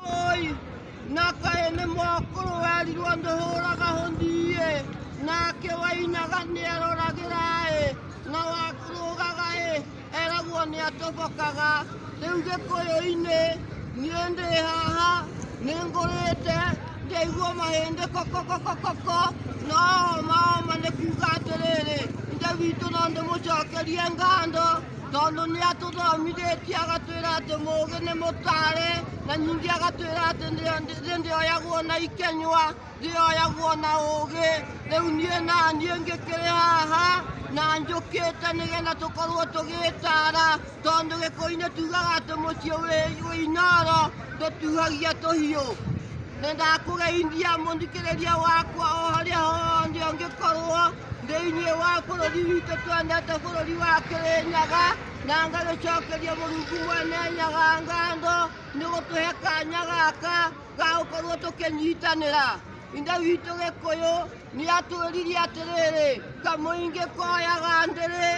Oi, na kaĩ nĩ mwakũrũ werirwo ndũhũraga hũthiĩ nake wainaga nĩ aroragĩra ĩ na wakũrũgaga ĩ eragwo nĩ atobokaga rĩu gĩkũyũ-inĩ niĩ ndĩ haha nĩ ngũrĩte ndaigua mahĩndĩ kokokokokoko no maoma nĩ kuga atĩrĩrĩ ithe witũ no ndĩmũcokerie ngando Tondũ nĩ atũthomithĩtie agatwĩra atĩ mũũgĩ nĩ mũtaarĩ, na ningĩ agatwĩra atĩ thĩ ndĩoyagwo na ikenywa, thĩ yoyagwo na ũũgĩ. Rĩu niĩ na niĩ ngĩkĩrĩ haha na njũkĩte nĩgetha tũkorwo tũgĩtaara, tondũ gĩkũyũ-inĩ tugaga atĩ mũciĩ wĩ wĩ inooro ndũtuhagia tũhiũ. Nĩ ndakũgeithia mũthikĩrĩria wakwa o harĩa hothe ũngĩkorwo. thĩinĩ wa bũrũri witũ twendete bũrũri wa kĩrĩnyaga na ngagĩcokeria mũrungu mwene nyaga ngando nĩ gũtũhe kanya gaka ga gũkorwo tũkĩnyitanĩra ithe witũ gĩkũyũ nĩ atwĩririe atĩrĩrĩ kamũingĩ koyaga ndĩrĩ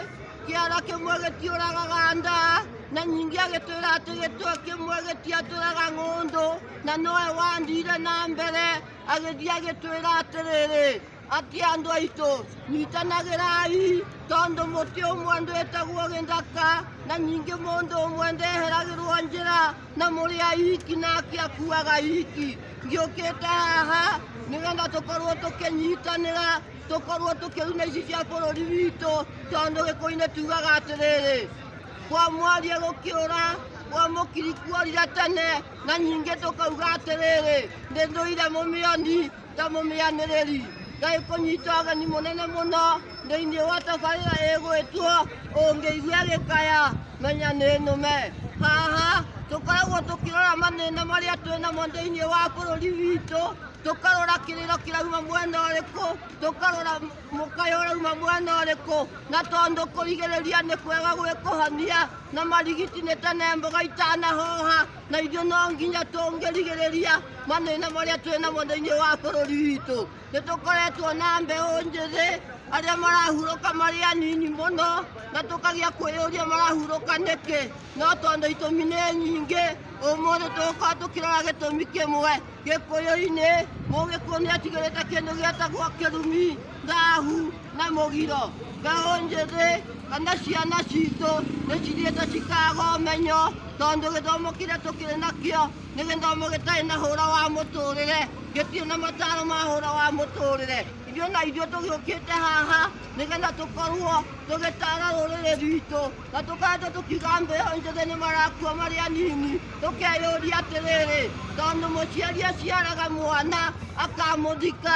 kĩara kĩmwe gĩtiũragaga nda na nyingĩ agĩtwĩra atĩ gĩtwe kĩmwe gĩtiatũraga ng'ũndũ na nowe wandire na mbere agĩthiĩ agĩtwĩra atĩrĩrĩ Atĩ andũ aitũ, nyitanagĩrai, tondũ mũtĩ ũmwe ndwĩtagwo gĩthaka, na ningĩ mũndũ ũmwe ndeheragĩrwo njĩra, na mũrĩ ahiki nake akuaga ahiki. Ngĩũkĩte haha nĩgetha tũkorwo tũkĩnyitanĩra, tũkorwo tũkĩruna ici cia bũrũri witũ, tondũ gĩkũyũ-inĩ tugaga atĩrĩrĩ, kwa mwaria gũkĩũra, kwa mũkiri kuorire tene, na ningĩ tũkauga atĩrĩrĩ, nĩ ndũire mũmĩoni. ta mũmĩanĩrĩri ngai kũnyita ũgeni mũnene mũno thĩinĩ wa tabarĩra ĩgwĩtwo ũngĩigua gĩkaya menya nĩ nũme haha tũkoragwo tũkĩrora mathĩna marĩa twĩ namo thĩinĩ wa bũrũri witũ tũkarora kĩrĩro kĩrauma mwena ũrĩkũ tũkarora mũkayo ũrauma mwena ũrĩkũ na tondũ kũrigĩrĩria nĩ kwega gwĩkũhania na marigiti nĩ tene mboga itanahoha na ithuĩ no nginya tũngĩrigĩrĩria mathĩna marĩa twĩ namo thĩinĩ wa bũrũri witũ nĩ tũkoretwo na mbeũ njĩthĩ arĩa marahurũka marĩ anini mũno na tũkagĩa kwĩyũria marahurũka nĩkĩ no tondũ itũmi nĩ nyingĩ ũmũthĩ tũgũkorwo tũkĩrora gĩtũmi kĩmwe gĩkũyũ-inĩ mũgĩkũyũ nĩ atigĩrĩte kĩndũ gĩatagwo kĩrumi thahu na mũgiro mbeũ njĩthĩ kana ciana citũ nĩ cithiĩte cikaga ũmenyo tondũ gĩthomo kĩrĩa tũkĩrĩ nakĩo nĩ gĩthomo gĩtarĩ na hũra wa mũtũrĩre gĩtirĩ na mataro ma hũra wa mũtũrĩre ithuĩ na ithuĩ tũgĩũkĩte haha nĩgetha tũkorwo tũgĩtara rũrĩrĩ rwitũ na tũkaenda tũkiuga mbeũ njĩthĩ nĩ marakua marĩ anini tũkeyũria atĩrĩrĩ tondũ mũciari aciaraga mwana akamũthika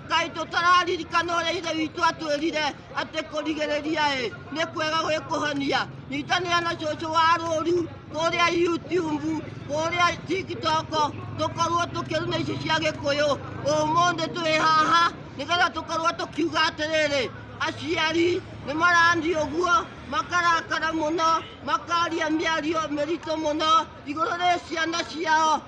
Ngai tũtararirikana ũrĩa ithe witũ atwĩrire atĩ kũrigĩrĩria ĩ nĩ kwega gwĩ kũhonia nyitanĩra na cũcũ wa rũru kũrĩa youtube kũrĩa tiktok tũkorwo tũkĩruna ici cia gĩkũyũ ũmũthĩ twĩ haha nĩgetha tũkorwo tũkiuga atĩrĩrĩ aciari nĩ marani ũguo makarakara mũno makaria mĩario mĩritũ mũno igũrũ rĩ ciana ciao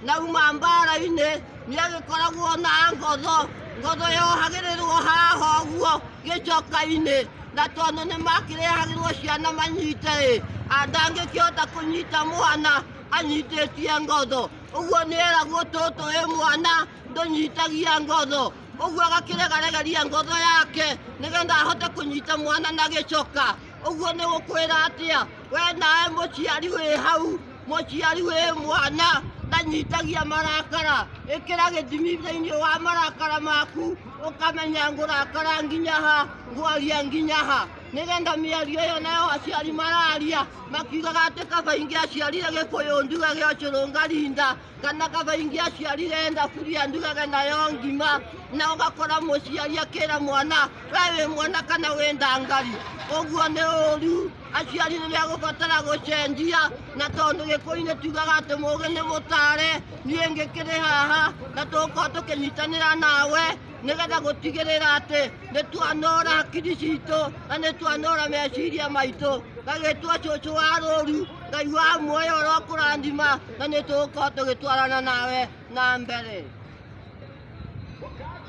Nauma mbaara-inĩ, nĩagĩkoragwo na ngotho, ngotho yohagĩrĩrwo haha ũguo gĩcoka-inĩ, na tondũ nĩmakĩrehagĩrwo ciana manyite-ĩ, ndangĩkĩhota kũnyita mwana anyitĩtie ngotho, ũguo nĩeragwo tũtũ ĩ mwana ndũnyitagia ngotho, ũguo agakĩregaregeria ngotho yake nĩgetha ahote kũnyita mwana na gĩcoka. ũguo nĩ gũkwĩra atĩa we nawe mũciari wĩ hau mũciari wĩ mwana ndanyitagia marakara ĩkĩra gĩthimi thĩinĩ wa marakara maku ũkamenya ngũrakara nginya ha ngwaria nginya ha nĩgetha mĩario ĩyo nayo aciari mararia makiugaga atĩ kaba ingĩ aciarire gĩkũyũ nduge gĩocũrũngarinda kana kabaingi aciarire enda kuria ndugage nayo ngima na ũgakora mũciari akĩra mwana we wĩ mwana kana wĩ ndangari ũguo nĩ ũru aciari nĩ megũbatara gũcenjia na tondũ gĩkũinĩ tugaga atĩ mũgĩ nĩ mũtare niĩ ngĩkĩrĩ haha na tũkorwo tũkĩnyitanĩra nawe nĩgetha gũtigĩrĩra atĩ nĩ twanora hakiri citũ na nĩ twanora meciria maitũ gagĩtwo cũcũ wa rũru ngai wa muoyo ũrokũrathima na nĩ tũgũkorwo tũgĩtwarana nawe na mbere